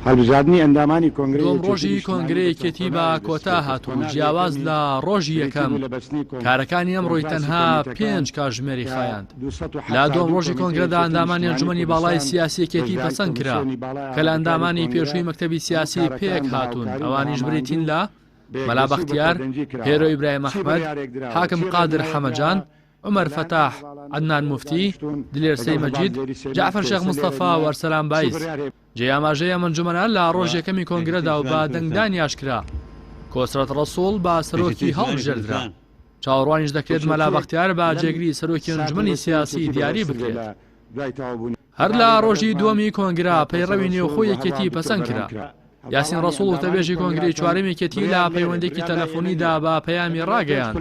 هەڵبژاردنی ئەندامانی کۆنگرەی یەکێتی نیشتمانی بە کۆنفرانس دووەم ڕۆژی کۆنگرەی یەکێتی بە کۆتا هات و جیاواز لە ڕۆژی یەکەم کارەکانی ئەمڕۆی تەنها پێنج کاتژمێری خایاند. لە دووەم ڕۆژی کۆنگرەدا ئەندامانی ئەنجومەنی باڵای سیاسی یەکێتی پەسەند کرا کە لە ئەندامانی پێشووی مەکتەبی سیاسی پێک هاتوون ئەوانیش بریتین لە، مەلا بەختیار، هێرۆ ئیبراهیم ئەحمەد، حاکم قادر حەمەجان، عومەر فەتاح، عەدنان موفتی، دلێر سەی مەجید، جەعفەر شێخ مستەفا و ئەرسەلان بایز. جێی ئاماژەیە ئەنجومەنە لە ڕۆژی یەکەمی کۆنگرەدا و بە دەنگدانی ئاشکرا کۆسرەت ڕەسووڵ بە سەرۆکی هەڵبژێردرا. چاوەڕوانیش دەکرێت مەلا بەختیار بە جێگری سەرۆکی ئەنجومەنی سیاسی دیاری بکرێت. هەر لە ڕۆژی دووەمی کۆنگرە پەیڕەوی نێوخۆی یەکێتی پەسەند کرا. یاسین ڕەسوڵ وتەبێژی کۆنگرەی چوارەم یەکێتی لە پەیوەندێکی تەلەفۆنیدا بە پەیامی ڕاگەیاند،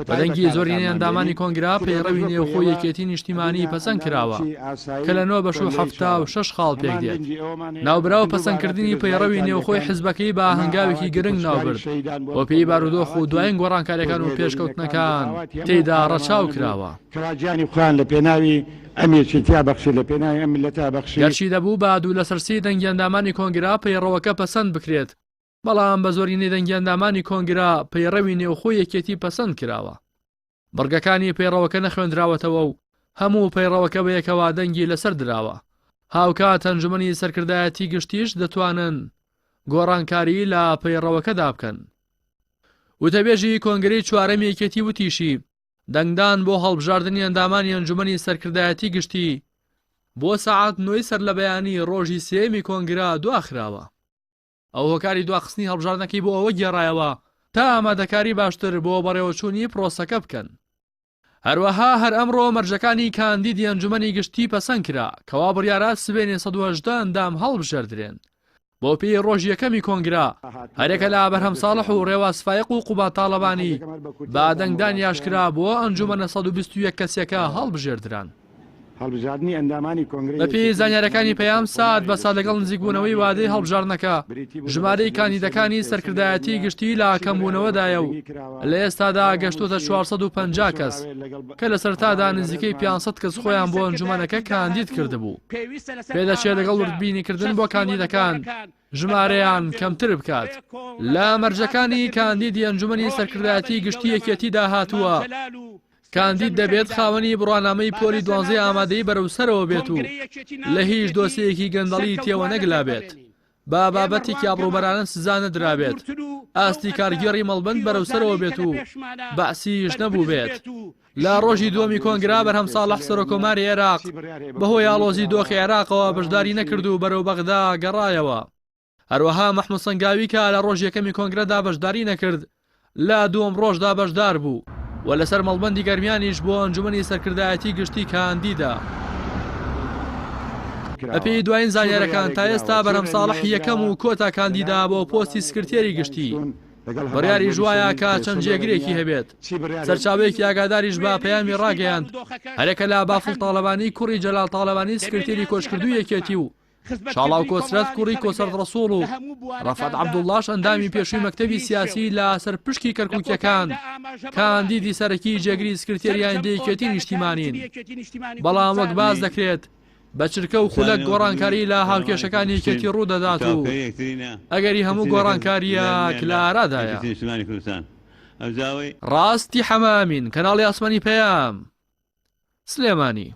بە دەنگی زۆرینەی ئەندامانی کۆنگرە پەیڕەوی نێوخۆی یەکێتی نیشتیمانی پەسەند کراوە کە لە نۆ بەش و حەفتا و شەش خاڵ پێکدێت. ناوبراو پەسەندکردنی پەیڕەوی نێوخۆی حزبەکەی بە هەنگاوێکی گرنگ ناوبرد بۆ پێی بارودۆخ و دوایین گۆڕانکاریەکان و پێشکەوتنەکان تێیدا ڕەچاو کراوە. کەوا گیانی خۆیان لە پێناوی ئەم یەکێتیە بەخشی لە پێناوی ئەم مللەتە بەخشی. گەرچی دەبوو بە دوو لەسەر سێی دەنگی ئەندامانی کۆنگرە پەیڕەوەکە پەسەند بکرێت، بەڵام بە زۆرینەی دەنگی ئەندامانی کۆنگرە پەیڕەوی نێوخۆی یەکێتی پەسەند کراوە. بڕگەکانی پەیڕەوەکە نەخوێندراوەتەوە و هەموو پەیڕەوەکە بە یەکەوە دەنگی لەسەر دراوە. هاوکات ئەنجومەنی سەرکردایەتی گشتیش دەتوانن گۆڕانکاری لە پەیڕەوەکەدا بکەن. وتەبێژی کۆنگرەی چوارەمی یەکێتی وتیشی، دەنگدان بۆ هەڵبژاردنی ئەندامانی ئەنجومەنی سەرکردایەتی گشتی بۆ سەعات نۆی سەرلەبەیانی ڕۆژی سێیەمی کۆنگرە دواخراوە. ئەو هۆکاری دواخستنی هەڵبژاردنەکەی بۆ ئەوە گێڕایەوە تا ئامادەکاری باشتر بۆ بەڕێوەچوونی پرۆسەکە بکەن. هەروەها هەر ئەمڕۆ مەرجەکانی کاندیدی ئەنجومەنی گشتی پەسەند کرا کەوا بڕیارە سبەینێ سەد و هەژدە ئەندام هەڵبژێردرێن بەوپێیەی ڕۆژی یەکەمی کۆنگرە هەریەکە لە ئابرهەم ساڵح و ڕێواز فایەق و قوباد تاڵەبانی بە دەنگدانی ئاشکرا بۆ ئەنجوومەنە سەد و بیست و یەک کەسییەکە هەڵبژێردران. بەپێی زانیارییەکانی پەیام، سات بە سات لەگەڵ نزیکبوونەوەی وادەی هەڵبژاردنەکە، ژمارەی کاندیدەکانی سەرکردایەتیی گشتی لە کەمبوونەوەدایە و لە ئێستادا گەشتووەتە چوار سەد و پەنجا کەس. کە لە سەرتادا نزیکەی پێنج سەد کەس خۆیان بۆ ئەنجومەنەکە کاندید کردبوو، پێدەچێت لەگەڵ وردبینیکردن بۆ کاندیدەکان ژمارەیان کەمتر بکات. لە مەرجەکانی کاندیدی ئەنجومەنی سەرکردایەتیی گشتیی یەکێتیدا هاتووە، کاندید دەبێت خاوەنی بڕوانامەی پۆلی دوانزەی ئامادەیی بەرەو سەرەوە بێت و لە هیچ دۆسێیەکی گەندەڵی تێوەنەگلابێت. با بابەتێکی ئابڕوبەرانە سزا نەدرابێت، ئاستی کارگێڕی مەڵبەند بەرەو سەرەوە بێت و بەعسیش نەبووبێت. لە ڕۆژی دووەمی کۆنگرا بەرهەم ساڵح سەرۆکۆماری عێراق بەهۆی ئاڵۆزی دۆخی عێراقەوە بەشداری نەکرد و بەرەو بەغدا گەڕایەوە. هەروەها مەحمود سەنگاوی کە لە ڕۆژی یەکەمی کۆنگرەدا بەشداری نەکرد، لە دووەم ڕۆژدا بەشدار بوو و لەسەر مەڵبەندی گەرمیانیش بۆ ئەنجومەنی سەرکردایەتی گشتی کاندیدە. بەپێی دوایین زانیارەکان تا ئێستا بەرهەم ساڵح یەکەم و کۆتا کاندیدە بۆ پۆستی سکرتێری گشتی. بڕیاریش وایە کە چەند جێگرێکی هەبێت. سەرچاوەیەکی ئاگاداریش بە پەیامی ڕاگەیاند، هەرەکە لە بافڵ تاڵەبانی کوڕی جەلال تاڵەبانی سکرتێری کۆچکردووی یەکێتی و شاڵاو کۆسرەت کوڕی کۆسرەت ڕەسوڵ و ڕەفعەت عەبدوڵڵاش ئەندامی پێشووی مەکتەبی سیاسی لە سەر پشکی کەرکووکییەکان کاندیدی سەرەکی جێگری سکرتێری ئایندەی یەکێتی نیشتیمانین بەڵام وەک باس دەکرێت بە چرکە و خولەک گۆڕانکاری لە هاوکێشەکانی یەکێتی ڕوو دەدات و ئەگەری هەموو گۆڕانکارییە کە لە ئارادایە. ڕاستی حەمامین کەناڵی ئاسمانی پەیام سلێمانی.